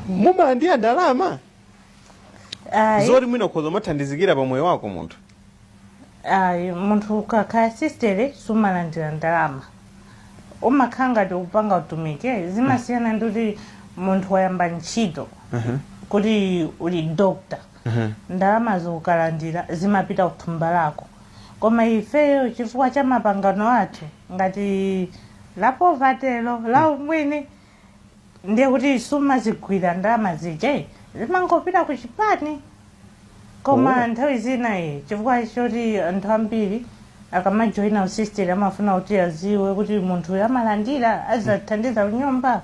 mumalandira ndalama ayi zoti mwina ukhoza umathandizikira pa moyo wako munthu ayi munthu ukakhala sistere sumalandira ndalama umakhala ngati upanga utumiki zimasiyana ndi kuti munthu wayamba ntchito kuti uli dokta ndalama zokukalandira zimapita kuthumba lako koma ifeyo chifukwa cha mapangano athu ngati la povatelo la umwini ndiye kuti sumazigwira ndalama zija zimangopita ku chipani koma nthawi zina eh chifukwa choti anthu ambiri akamajoyina usisteri amafuna kuti aziwe kuti munthu uyu amalandira azathandiza kunyumba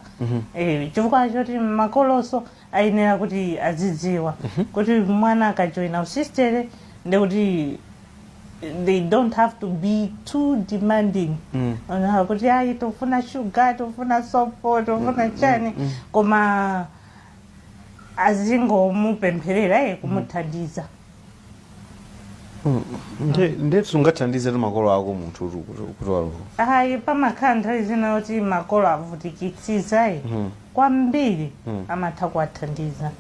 Eh, chifukwa choti makoloso ayenera kuti azidziwa kuti mwana akajoina usistere ndekuti they don't have to be too demanding Mm. kunena kuti ayi tofuna shuga tofuna sopo tofuna chani koma azingomupempherera eh kumuthandiza Nde- ndekuti sungathandize makolo ako munthu kuti- kuti kuti walowa ayi pamakhala nthawi zina yoti makolo avutikitsitsadi Mhm. kwambiri Mhm. amatha kuwathandiza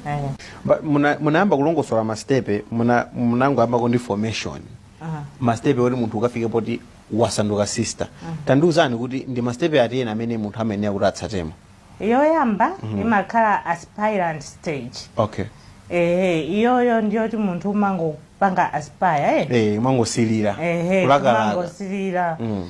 Eh, Ba- muna- munayamba kulongosola mastepe muna- munangoyambako ndi formation aha. mastepe oti munthu ukafike poti wasanduka sister tandiuzani kuti ndi mastepe ati ena amene munthu amayenera kuti atsatemo yoyamba mm -hmm. imakhala aspirant stage okay ehe iyoyo ndiyoti munthu umangopanga aspire eh? eh, umangosilira ehe umangosilira mm.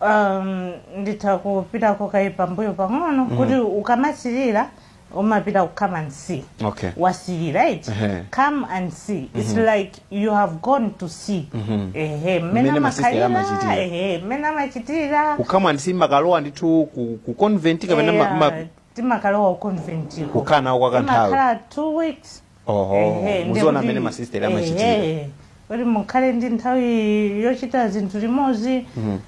um, nditha kupita kaye pambuyo pang'ono mm. kuti ukamasilira umapita ku come and see okay. wasilira eti uh -huh. come and see mm -hmm. it's mm-hmm. like you have gone to see ehe mmene Mmene masista amakhalira amachitira. ehe mmene amachitira ku come and see mumakalowa ndithu ku, ku convent kapena ma- ma- Eya, timakalowa conventiko kukhala nawo kwa kanthawi timakhala two weeks oho Ehe, muzione ndikuti- mmene masisteri amachitira ehe, kuti mukhale ndi nthawi yochita zinthu limodzi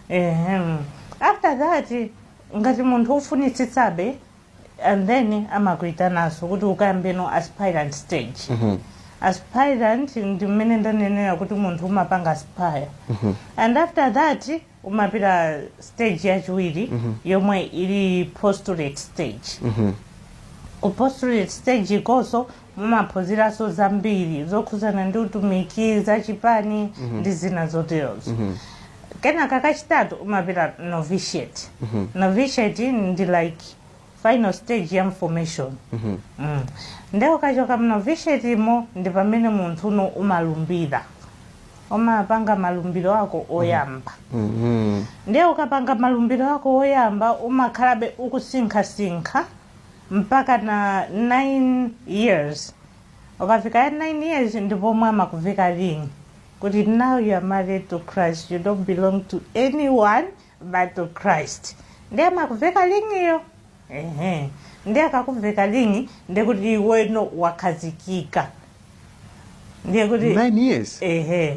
Ehem. after that ngati munthu ufunitsitsabe and then amakuitananso kuti ukayambe no aspirant stage aspirant ndi mmene ndanenera kuti munthu umapanga aspire and after that umapita stage yachiwiri yomwe ili postulate stage ku postulate stage ikonso mumaphunziranso zambiri zokhudzana ndi utumiki za chipani ndi zina zoterozo kenaka kachitatu umapita novitiate novitiate ndi like final stage ya formation mm. nde ukachoka mnovitiate mo ndi pamene munthu no umalumbira umapanga malumbiro ako oyamba Mhm. ndiye ukapanga malumbiro ako oyamba umakhalabe ukusinkhasinkha mpaka na 9 years ukafika ya 9 years ndipo amakuveka ring kuti now you are married to christ you don't belong to anyone but to christ ndiye amakuveka ringiyo ehe ndiye akakuveka ring ndiye kuti iweno wakhazikika ndiye kuti 9 years ehe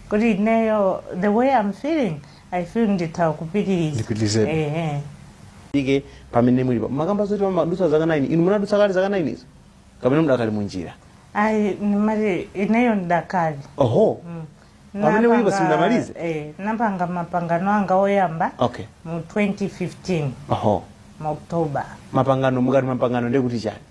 kuti ineyo the way i'm feeling i feel nditha kupitiriza Ndipitirizebe. ehe apa pamene mulipo mwakamba zoti mumadutsa zaka 9 inu munadutsa kale zaka 9 izo kapena mudakali munjira ayi ndimati ineyo ndidakali oho Pamene mulipo Napanga- simunamalize? eh, napanga mapangano anga oyamba okay mu 2015 oho mu october mapangano mukati mapangano ndekuti chani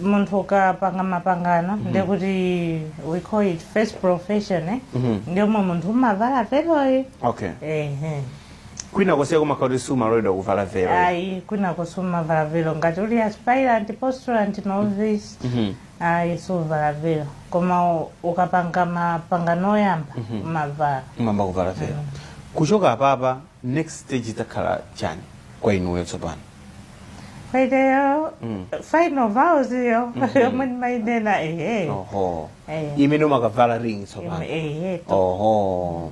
munthu ukapanga mapangano ndiye kuti we call it first profession eh? Mhm. ndiye omwe munthu umavala veloyi okay ehe kwina konseko kumakhala kuti sumaloledwa kuvala velo ayi kwinako sumavala velo ngati uli aspirant postulant novice Mhm. ayi suvala velo koma u- ukapanga mapangano oyamba umavala umayamba kuvala velo kuchoka apapa next stage idzakhala chani kwa inuyo tsopano Kwaideyo, Mm. final vows iyo, yomwe ndimayinena, ehe. oho Ehe. imene umakavala ring tsopano Ehe, to- oho